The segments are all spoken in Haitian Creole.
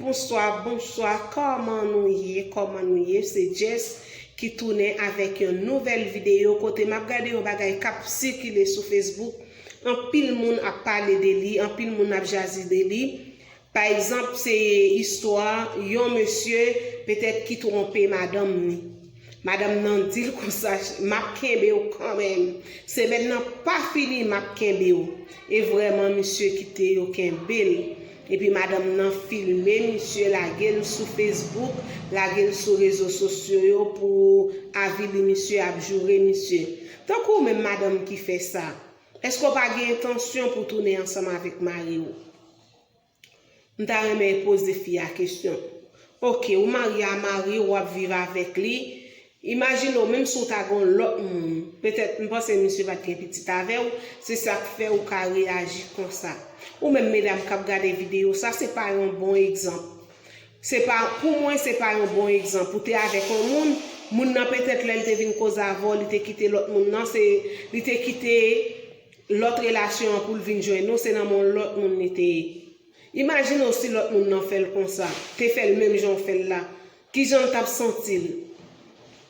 Bonswa bonswa kòman nou ye kòman nou ye se Jess ki tounen avèk yon nouvèl videyo kote map gade yon bagay kap sikile sou Facebook anpil moun ap pale de li anpil moun ap jaze de li pa egzanp se istwa yon mesye petèt ki twonpe madanm ni Madanm nan dil konsa map kenbew kanmenm semèn nan pa fini map kenbew e vrèman misye kite yo kenbel epi madanm nan filme misye lagel sou Facebook lagel sou rezo sosyo yo pou avili misye ap joure misye tankou ou menm madanm ki fè sa eske ou pa gen entansyon pou tounen ansanm avèk mariw. M ta renmen poze fi a kesyon. Ok, ou marye a mariw, wap viv avèk li, imajine w menm si w ta gen yon lòt moun, petèt m panse misye pat gen pitit avèw, se sak fè ou ka reyaji konsa. Ou menm medam kap gade videyo sa se pa yon bon egzanp. Se pa, pou mwen se pa yon bon egzanp. Ou te avèk yon moun, moun nan petèt lèl te vin koz avèw li te kite lòt moun nan, se li te kite. lòt relasyon an poul vin jwenn ou se nan men yon lòt moun li te ye imajine w si lòt moun nan fèl konsa te fèl menm jan w fèl la kijan l tap santil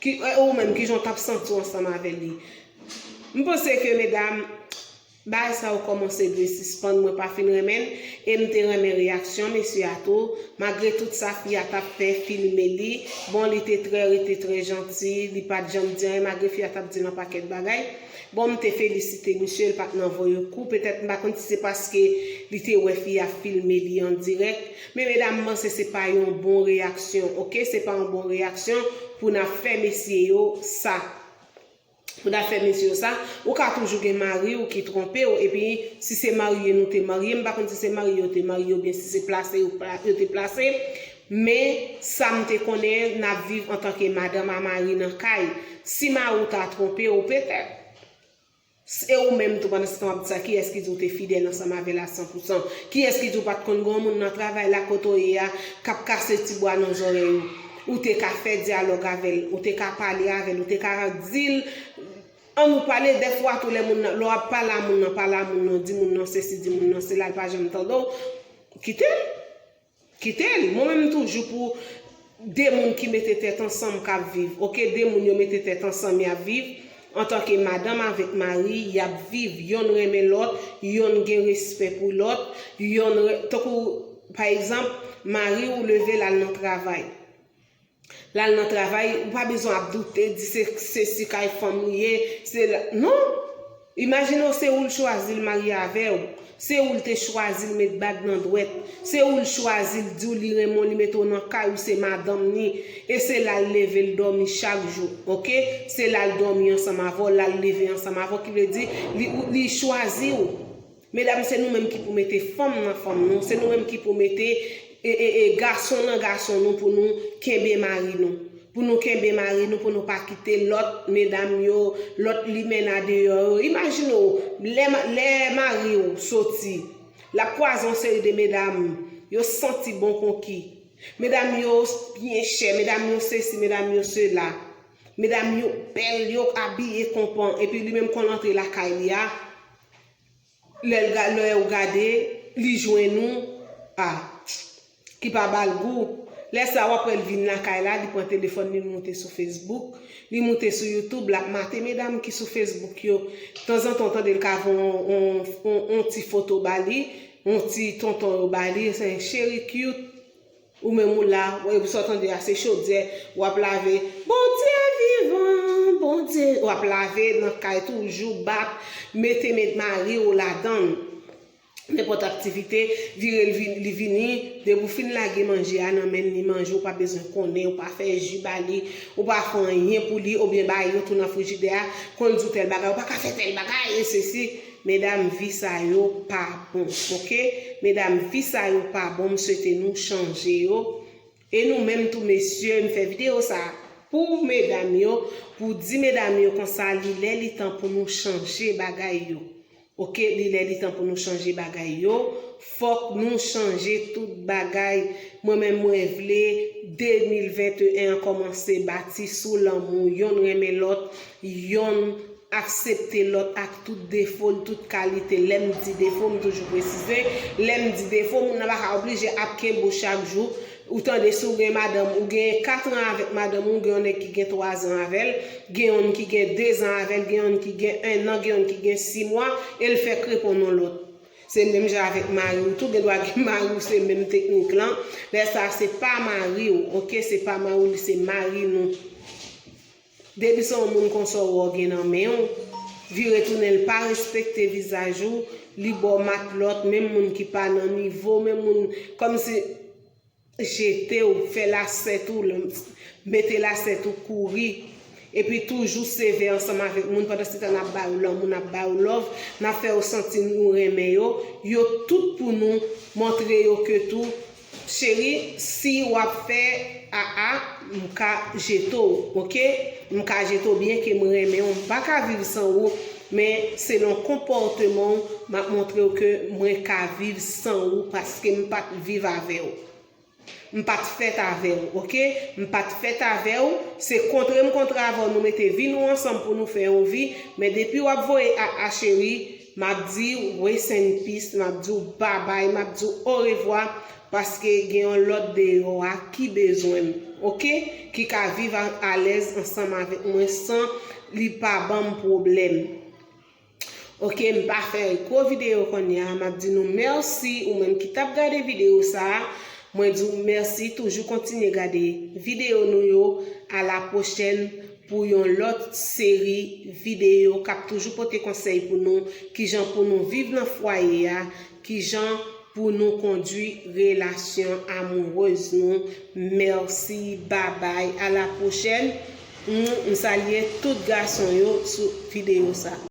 ki e ou menm kijan w tap santi w ansanm avè li m panse ke medam bagay sa yo kòmanse dwe sispann mwen pa fin renmen l e m te renmen reyaksyon mesye a tou magre tout sa fi a tap fè filme li bon li te trè rete trè janti li pat janm di anyen magre fi a tap dil anpakèt bagay. Bon m te felisite misye l pat nan voye kou petèt m pa konn si se paske li te wè fi a filme li an dirèk men medam m panse se pa yon bon reyaksyon ok se pa yon bon reyaksyon pou n ap fè mesye yo sa pou n ap fè mesye yo sa ou ka toujou gen mari w ki twonpe w epi si se marye nou te marye m pa konn si se marye yo te marye oubyen si se plase yo te plase Men, sa m te konnen, n ap viv antanke madanm a mari nan kay. Si mari w ta twonpe w, petèt. S, E ou menm tou, pandansetan w ap di sa, kiyès ki di w te fidèl ansanm avè l a san pou san? Kiyès ki di w pa t konn gen yon moun nan travay la, kote w ye a, k ap kase ti bwa nan zòrèy ou? Ou te ka fè dyalòg avè l. Ou te ka pale avè l. Ou te ka di l, An nou pale. Dèfwa tou, lè moun nan, lè w ap pale a moun nan, pale a moun nan, di moun nan sesi, di moun nan sela, l pa janm tande w, kite l. Kitel, mwen menm m toujou pou de moun ki mete tèt ansanm kap viv ok de moun yo mete tèt ansanm yap viv antanke madanm avèk mari yap viv yonn renmen lòt yonn gen respè pou lòt yonn tankou pa egzanp mariw level al nan travay Lal nan travay ou pa bezwen ap doute di se sesi kay fanm li ye se la non imajine w se oul chwazil marye avew se oul te chwazil met bag nan dwèt se oul chwazil diw li renmen w li mete w nan kay ou se madanm ni e se lal leve l domi chak jou ok se lal domi ansanm avèw lal leve ansanm avèw ki vle di li chwaziw Medam se nou menm ki pou mete fanm nan fanm nou, se nou menm ki pou mete gason nan gason nou pou nou kenbe mari nou. Pou nou kenbe mari nou pou nou pa kite lòt medam yo, lòt limenna deyò yo. Imajine w, lè mari w soti, l ap kwaze yon seri de medam, yo santi bon konki. Medam yo byen chè, medam yo sesi, medam yo sela. Medam yo bèl, yo abiye konpan, epi li menm konn antre lakay li a. Lè ou gade, li jwenn ou, a. Ki pa ba l gou. Lè sa a, w ap wè l vin lakay la, li pran telefòn li, li moute sou Facebook. Li moute sou YouTube, l ap mate medam ki sou Facebook yo. Tanzantan ou tande l ka voye yon ti foto ba li, yon ti tonton yo ba li, cheri cute. Ou menm ou la, wè sa w tande a se chodyè w ap lave, Bondye vivan, Bondye, w ap lave nan kay toujou bak, mete men mari w ladan l. Nenpòt aktivite, vire l vini, li vini, depi w fin lage manje a nan men l li manje w pa bezwen konnen, ou pa fè ji ba li, ou pa fè anyen pou li oubyen bay yon tou nan frijidè a, konn di w tèl bagay, ou pa ka fè tèl bagay e sesi. Medam vi sa yo pa bon ok. Medam vi sa yo pa bon m swete nou chanje yo e nou menm tou mesye m fè video sa pou medam yo pou di medam yo konsa li lè li tan pou nou chanje bagay yo ok li lè li tan pou nou chanje bagay yo. Fok nou chanje tout bagay mwen menm mwen vle 2021 an komanse bati sou lanmou yonn renmen lot yonn aksepte lot ak tout defo l tout kalite lem di defo m toujou presize lem di defo moun nan paka oblije ap kenbe w chak jou ou tande si w gen madanm ou gen 4 an avek madanm ou gen yon neg ki gen 3 zan avel gen yonn ki gen 2 zan avel gen yonn ki gen 1 nan gen yonn ki gen 6 mwa el fek reponn yon lot. Se menm jan avèk mariw tou gendwa gen mariw se menm teknik lan lè sa se pa mariw ok se pa mariw li se mari nou depi se yon moun konsa ou wè ou gen nan menw vire tounen li pa respekte vizaj ou li baw matlòt menm moun ki pa nan nivow menm moun kòmsi jete w, fè lasèt ou, mete lasèt ou kouri, epi toujou sevè ansanm avèk moun pandansetan n ap ba yo lanmou, n ap ba yo lòv, n ap fè yo santi nou renmen yo, yo tout pou nou, montre yo ke tou, cheri si w ap fè aa m ka jete w ok, m ka jete w byenke m renmen w, m pa ka viv san ou, Men selon konpòteman w map montre w ke mwen ka viv san ou paske m pat viv avè w. M pat fèt avè w ok. M pat fèt avè w, se kontre m kontre avè w nou mete vi nou ansanm pou nou fè yon vi, men depi wap voye a a cheri, map di w rest in peace, map di w babay, map di w orevwa, Paske gen yon lòt deyò a ki bezwen m, ok, ki ka viv alèz ansanm avèk mwen san li pa ban m pwoblèm. Ok, m pa fè gwo videyo kounye a, m ap di nou mèsi, ou menm ki t ap gade videyo sa a, mwen di w mèsi, toujou kontinye gade videyo nou yo, alapwochèn pou yon lòt seri videyo k ap toujou pote konsèy pou nou, kijan pou nou viv nan fwaye a, Kijan pou nou kondwi relasyon amoureuse nou merci babay a la prochèn m salye tout gason yo sou video sa.